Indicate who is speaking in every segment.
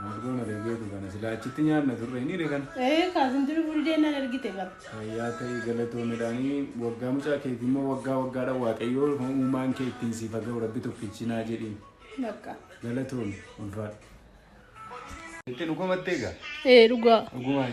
Speaker 1: Maanguddoon na deebi'eetu kana silaa achitti nyaanna turre hin hire kana. Ee kaasin turi furii
Speaker 2: deennaan ergite bara. Fayyaa ta'ii galatoo
Speaker 1: midhaanii waggaa mucaa keetii immoo waggaa waggaadha waaqayyoo uumaan kee ittiin siif haa ga'u rabbi tokkichinaa jedhiin. Bakka.
Speaker 2: Galatoomi
Speaker 1: ulfaadha. Itti nu komattee gaa? Ee dhugaa. Dhugumaan.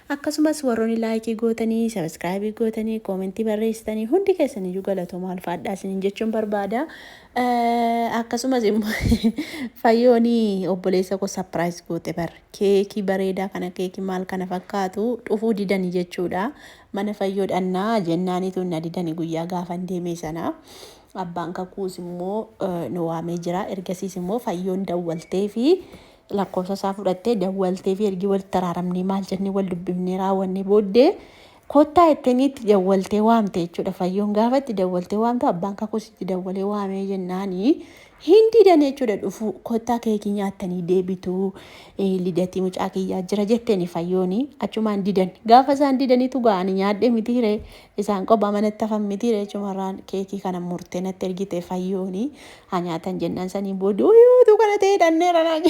Speaker 2: Akkasumas warroni like gootanii, subscribe gootanii, comment barreessitanii hundi keessaniyyuu galatoomaa ulfaadhaa isiniin jechuun barbaada. Eh, Akkasumas immoo fayyooni obboleessa koo surprise goote bar keekii bareedaa kana keekii maal kana fakkaatu dhufuu didani jechuudha. Mana fayyoo dhannaa jennaanitu na didani guyyaa gaafan deemee sana. Abbaan kakuus immoo eh, nu waamee jira. Ergasiis immoo fayyoon dawwaltee fi Lakkoofsa isaa fudhattee dawwalteefi ergi walitti araaramnee maal jennee wal dubbifnee raawwannee booddee kottaa jettanii itti dawwaltee waamte jechuudha. Fayyoon gaafa itti dawwaltee waamtu abbaan kakuus itti dawwalee waamee jennaani hin didan jechuudha dhufuu kottaa keekii nyaattanii deebituu eh, lidatii mucaa kiyyaa jira jetteeni fayyooni achumaan didan. Gaafa isaan didanitu gaa'ani nyaadhe miti hiree Isaan qophaa manatti hafan mitii ree cumarraan keekii kana murtee natti ergite fayyooni haa nyaatan jennaan sanii booda uyu utuu kana ta'ee dhanneera naan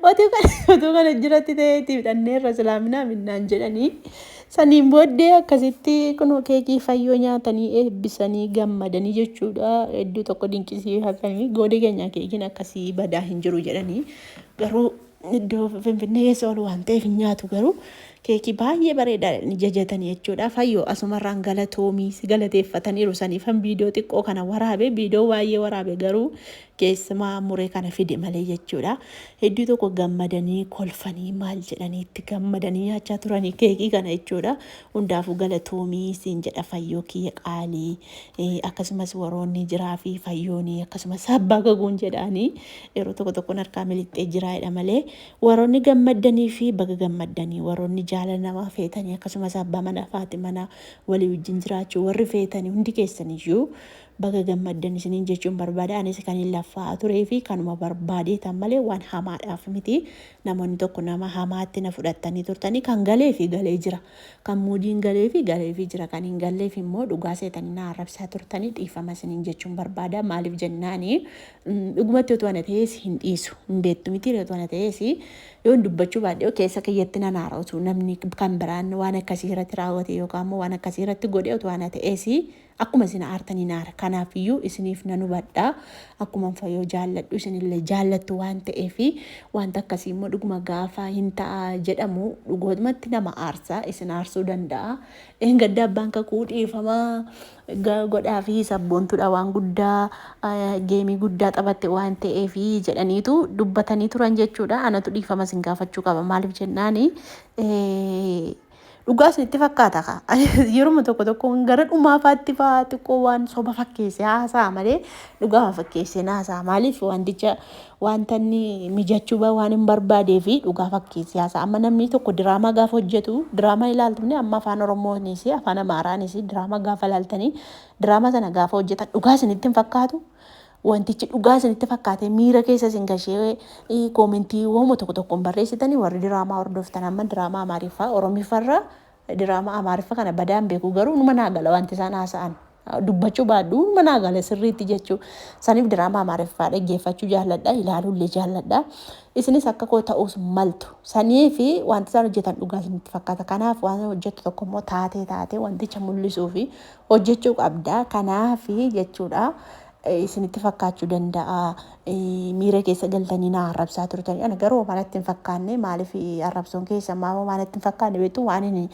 Speaker 2: otuu kana otuu kana jiratti ta'eetiif dhanneerra silaaminaa minnaan jedhanii saniin booddee akkasitti kunoo keekii fayyoo nyaatanii eebbisanii gammadanii jechuudha hedduu tokko dinqisiifatanii goodee keenyaa keekiin akkasii badaa hin jiru jedhanii garuu iddoo finfinnee keessa ol waan ta'eef hin nyaatu garuu keekii baay'ee bareedaadha inni jajatanii jechuudha fayyoo asumarraan galatoomii si galateeffataniiru saniifan viidiyoo xiqqoo kana waraabe viidiyoo baay'ee waraabe garuu keessumaa muree kana fide malee jechuudha hedduu tokko gammadanii kolfanii maal jedhanii itti gammadanii nyaachaa turanii keekii kana jechuudha hundaafuu galatoomii siin jedha fayyoo kiyya qaalii eh, akkasumas waroonni jiraa fi fayyoonii akkasumas abbaa gaguun jedhaanii Yeroo tokko tokkon harkaa miliqxee jiraa'edha malee waroonni gammaddanii fi baga gammaddanii waroonni jaalala namaa feetanii akkasumas abbaa manaa faati manaa walii wajjin jiraachuu warri feetanii hundi keessaniyyuu baga gammaddan isiniin jechuun barbaada anis kaniin laffaa turee fi kanuma barbaadeetan malee waan hamaadhaaf miti namoonni tokko nama hamaatti na fudhattanii turtanii kan galee fi galee jira kan muudiin galee fi galee fi jira kan hin galleef immoo dhugaa seetanii na arrabsaa turtanii dhiifama isiniin jechuun barbaada maaliif jennaanii Dhugumatti otoo ana ta'ees hin dhiisu. Hin beektu mitiire otoo ana ta'ees yoon dubbachuu baadhee keessa kiyyatti nan haara otoo namni kan biraan waan akkasii irratti raawwate yookaan immoo waan akkasii irratti godhe otoo ana ta'ees akkuma isin aartan hin aara. Kanaaf iyyuu isiniif nan hubadha. Akkuma fayyoo jaalladhu isinillee jaallattu waan ta'eef wanta akkasii immoo dhuguma gaafa hin ta'a jedhamu dhugootmatti nama aarsa isin aarsuu danda'a. Dheengadda abbaan kakuu dhiifama godhaafi sabboontudha waan guddaa geemii guddaa taphatte waan ta'eef jedhaniitu dubbatanii turan jechuudha. Anatu dhiifama isin gaafachuu qaba maaliif jennaan dhugaa isinitti fakkaata ka yeruma tokko tokko gara dhumaafaatti fa'aa xiqqoo waan soba fakkeessee haasa'a malee dhugaa fakkeessee haasa'a maaliif wanticha Wanta inni mijachuu ba waan hin barbaadee fi dhugaa fakkeessee haasa'a. Amma namni tokko diraamaa gaafa hojjetu, diraamaa ilaaltu ni amma afaan Oromoonis, afaan Amaaraanis diraamaa gaafa ilaaltanii, diraamaa sana gaafa hojjetan dhugaa isinitti hin fakkaatu. Wantichi dhugaa isinitti fakkaatee miira keessa isin gashee koomentii wooma tokko tokkoon barreessitanii warri diraamaa hordoftan amma diraamaa Amaariffaa Oromiffarraa Diraamaa Amaariffa kana badaa hin beeku garuu numa naa gala wanti isaan haasa'an. Dubbachuu baadhu numa naa gala sirriitti jechuu. Saniif diraamaa Amaariffaa dhaggeeffachuu jaalladha ilaaluu illee jaalladha. Isinis akka koo ta'uus maltu. Sanii fi wanti isaan hojjetan dhugaa isinitti fakkaata. Kanaaf waan hojjettu tokko immoo taatee taatee wanticha mul'isuu fi hojjechuu qabda. Kanaaf jechuudha isinitti fakkaachuu danda'a. Miira keessa galtanii na arrabsaa turtanii. Ana garuu homaa natti hin fakkaanne. Maaliif arrabsoon keessan maa homaa natti hin fakkaanne beektu waan inni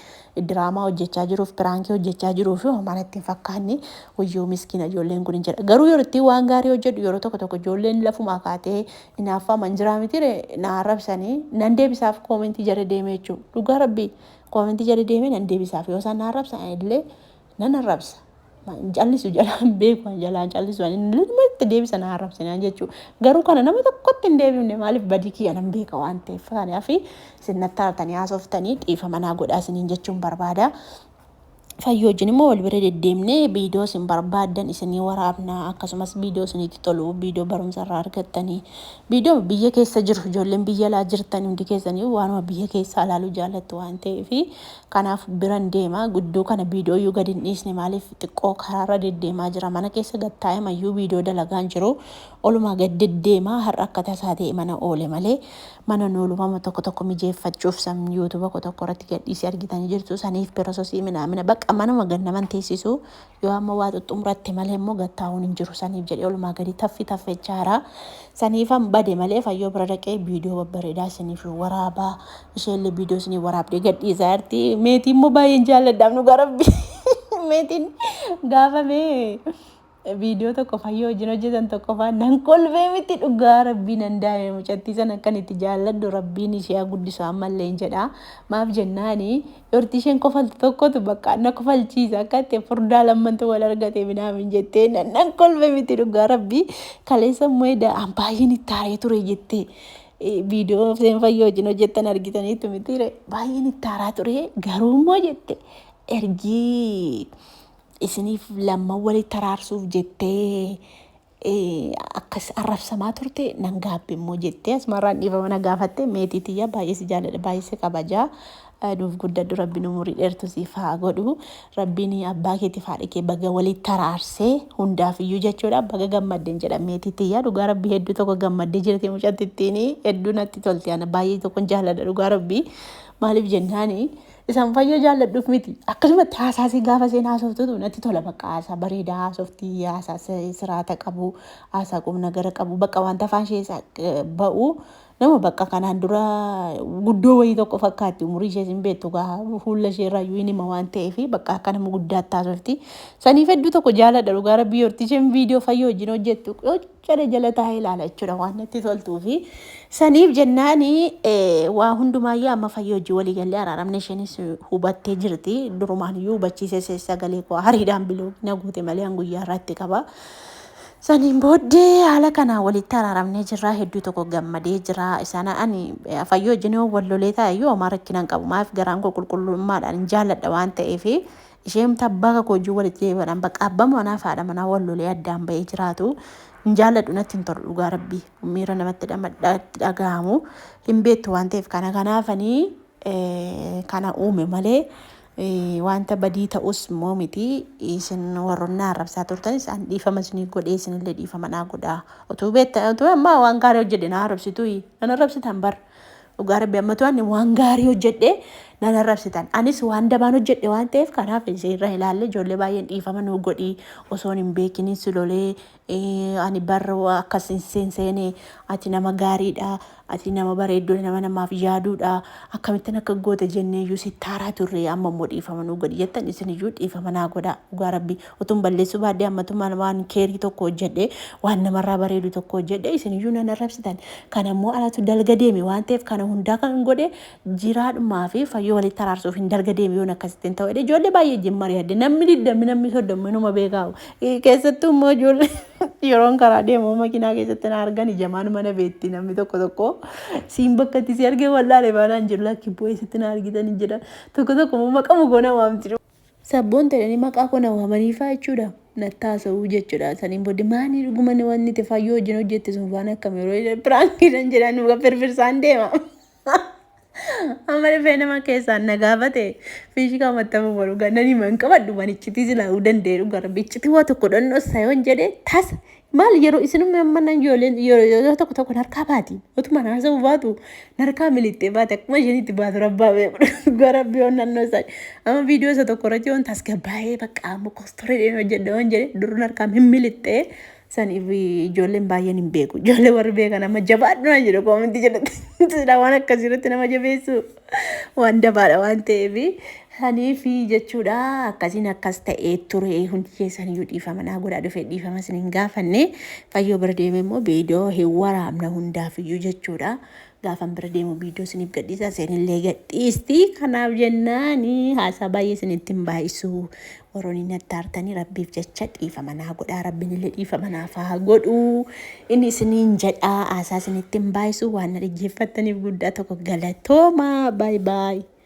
Speaker 2: diraamaa hojjechaa jiruuf piraankii hojjechaa jiruuf homaa natti hin fakkaanne. Wayyoo miskiina ijoolleen kun hin jedha. Garuu yeroo itti waan gaarii hojjedhu yeroo tokko tokko ijoolleen lafumaa kaatee hinaaffaa man jiraa mitire na arrabsanii nan deebisaaf koomentii jala deemee jechuudha. Dhugaa rabbii koomentii jala deemee nan deebisaaf yoo isaan na arrabsan illee Nan arrabsa. Callisu jalaa hin beeku an jalaa callisu an inni nama itti deebisa na arrabsinaan jechuu garuu kana nama tokkotti hin deebifne maaliif badii kiyya nan beeka waan ta'eef kana fi isin natti aartanii haasoftanii dhiifama naa godhaa isiniin jechuun barbaada. Fayyoo wajjin immoo wal bira deddeemnee viidiyoo isin barbaaddan isinii waraabna akkasumas viidiyoo isinitti tolu viidiyoo barumsa irraa argattanii viidiyoo biyya keessa jiru ijoolleen biyya alaa jirtan hundi keessanii waanuma biyya keessaa ilaaluu jaallattu waan ta'eef Kanaaf biran deema guddoo kana viidooyyuu gad hin dhiisne maaliif xiqqoo karaarra deddeemaa jira mana keessa gad taa'emayyuu viidoo dalagaan jiru olumaa gad deddeema har'a akka tasaa ta'e mana oole malee manan oolu mama tokko tokko mijeeffachuuf san youtube ko tokko irratti gad dhiise argitanii jirtu saniif pirososii minaamina baqa manuma gad nama hin teessisu Yoo amma waa xuxxumuratte malee immoo gad taa'uun hin jiru. Saniif jedhee olumaa gadi taffi taffechaa jira. Saniifan bade malee fayyoo bira dhaqee viidiyoo babbareedaa isiniif waraaba. Isheellee viidiyoo isiniif waraabdee gad dhiisaa jirti. Meetii immoo baay'een jaalladhaaf dhugaa rabbi. Meetiin gaafa mee viidiyoo tokko fayyoo wajjin hojjetan tokkoffaa nan kolfee miti dhugaa rabbii nan daa'ime mucattii sana akkan itti jaalladhu rabbiin ishee haa guddisu ammallee hin jedha. Maaf jennaani Dhorti isheen kofaltu tokkotu bakka na kofalchiisa akka itti furdaa lammantu wal argate minaamin jettee nan nan kolfe miti dhugaa rabbii kaleessa immoo edaa an baay'een itti aaree ture jettee viidiyoo seen fayyoo wajjin hojjettan argitaniitu mitiire baay'een itti aaraa ture garuu immoo jette ergii isiniif lamman walitti araarsuuf jettee Akkas arrabsamaa turte nan gaabbe immoo jettee asmaarraan dhiifama na gaafatte meetii tiyya baay'ee si jaaladha baay'ee si kabaja nuuf guddadhu rabbiin umurii dheertu siif haa godhu rabbiin abbaa keetiif haadha kee baga walitti araarsee hundaaf iyyuu jechuudha baga gammadden jedha meetii tiyya dhugaa rabbii hedduu tokko gammaddee jirti mucatti ittiin hedduu natti tolti ana baay'ee tokkon jaaladha dhugaa rabbii maaliif jennaani Isaan fayyoo jaalladhuuf miti. Akkasumatti haasaasii gaafa isheen haasoftutu natti tola bakka haasaa bareedaa haasoftii haasaa si- siraata qabu haasaa qubna gara qabu bakka wanta afaan ishee isaa, eh, ba'u nama bakka kanaan dura guddoo wayii tokko fakkaatti umurii ishees hin beektu gaa fuula ishee irraa iyyuu hin hima waan ta'eef bakka akka nama guddaatti haasofti. Saniif hedduu tokko jaaladha dhugaa rabbii yorti isheen viidiyoo fayyoo wajjin hojjettu Cala jala taa'ee ilaala jechuudha waan natti toltuu fi saniif jennaani waa hundumaayyuu amma fayyoo hojii walii gallee araaramne isheenis hubattee jirti durumaan iyyuu hubachiisee see sagalee koo hariidhaan biloo na guute malee an guyyaa irratti qaba. Saniin booddee haala kanaan walitti araaramnee jirra hedduu tokko gammadee jira isaan ani eh, fayyoo wajjin yoo wal lolee taa'e iyyuu homaa rakkinaan qabu maaf garaan koo qulqullummaadhaan hin jaalladha waan ta'eef Isheemti abbaa kakuu wajjin walitti deebi'adhaan bakka abbaa manaa fi haadha manaa wal lolee addaan ba'ee jiraatu hin jaalladhu natti hin tolu dhugaa rabbii miira namatti dhagahamu hin beektu waan ta'eef kana kanaafanii kana uume malee wanta badii ta'us immoo miti isin warroonni arrabsaa turtanis an dhiifama isinii godhee isinillee dhiifama naa godhaa utuu beektan utuu ammaa waan gaarii hojjedhe naa arrabsituu nan arrabsitan bar Dhugaa rabbi ammatu ani waan gaarii hojjedhe nan arrabsitan. Anis waan dabaan hojjedhe waan ta'eef kanaaf isin irra ilaalle ijoollee baay'een dhiifama nuu godhi osoon hin beekiniin si lolee eh, ani barra waa akkas hin seenseene ati nama gaariidha ati nama bareeddudha nama namaaf yaaduudha akkamittan akka goota jenneeyyuu si taaraa turre amma immoo dhiifama nuu godhi jettan isin iyyuu dhiifama naa godha dhugaa rabbi Utuun balleessuu baadhee ammatu maal waan keerii tokko hojjedhee waan namarraa bareedu tokko hojjedhee isiniyyuu nan arrabsitan. Kana immoo anatu dalga deeme waan ta'eef kana hundaa kan godhe jiraadhumaa fi fayyoo walitti araarsuuf hin dalga deeme yoon akkasitti hin ta'u jedhee ijoollee baay'ee wajjin mari'adde namni digdamni namni soddomni numa beekaawu. Keessattuu immoo ijoollee yeroon karaa deemu makiinaa keessatti na argan ijamaan mana beetti namni tokko tokko siin bakka itti si argee wal'aale baanaan jiru lakki bu'ee sitti na argitan hin jedhan tokko tokko immoo maqamu goona waamti. Sabboonta jedhanii maqaa koo na waamaniifaa jechuudha. Natti haasa'uu jechuudha. Saniin booddee maanii dhuguma ni wanni itti fayyoo wajjin hojjette sun faana akkam yeroo jedhan piraankiidhan jedhan dhuga firfirsaan deema. Amma dhufee nama keessaan na gaafate fiishikaa mattamu baru gannani man qabadhu manichitii silaa'uu danda'e dhuga rabbi iccitii waa tokko dhannoo sayoon jedhe tasa Maal yeroo isinumni amma nan ijoolleen yeroo tokko tokko narkaa baati. Utuma haasa'uu baatu narkaa miliqxee baati akkuma isheen itti baatu rabbaa beeku gara biyoon naannoo isaa. Amma viidiyoo isa tokko irratti yoon tasgabbaa'ee bakka amma kostoreedhaan hojjedha waan jedhe duruu narkaa hin miliqxee saniif ijoolleen baay'een hin beeku. Ijoollee warri beekan amma jabaadhu na jedhu koominti jedhatti. Waan akkasii irratti nama jabeessuu. waan dabaadha waan ta'eef saniif jechuudha akkasiin akkas ta'ee ture hundi keessan iyyuu dhiifama naa godhaa dhufee dhiifama isin hin gaafanne fayyoo bira deeme immoo viidiyoo hin waraabna hundaaf iyyuu jechuudha gaafan bira deemu viidiyoo isiniif gadhiisa isinillee gadhiisti kanaaf jennaani haasaa baay'ee isinitti hin baay'isu Waroni natti aartani rabbiif jecha dhiifama naa godhaa rabbinille dhiifama naaf haa godhu inni isiniin jedha aasaa isinitti hin baay'isu waan na dhaggeeffattaniif guddaa tokko galatooma baay baay.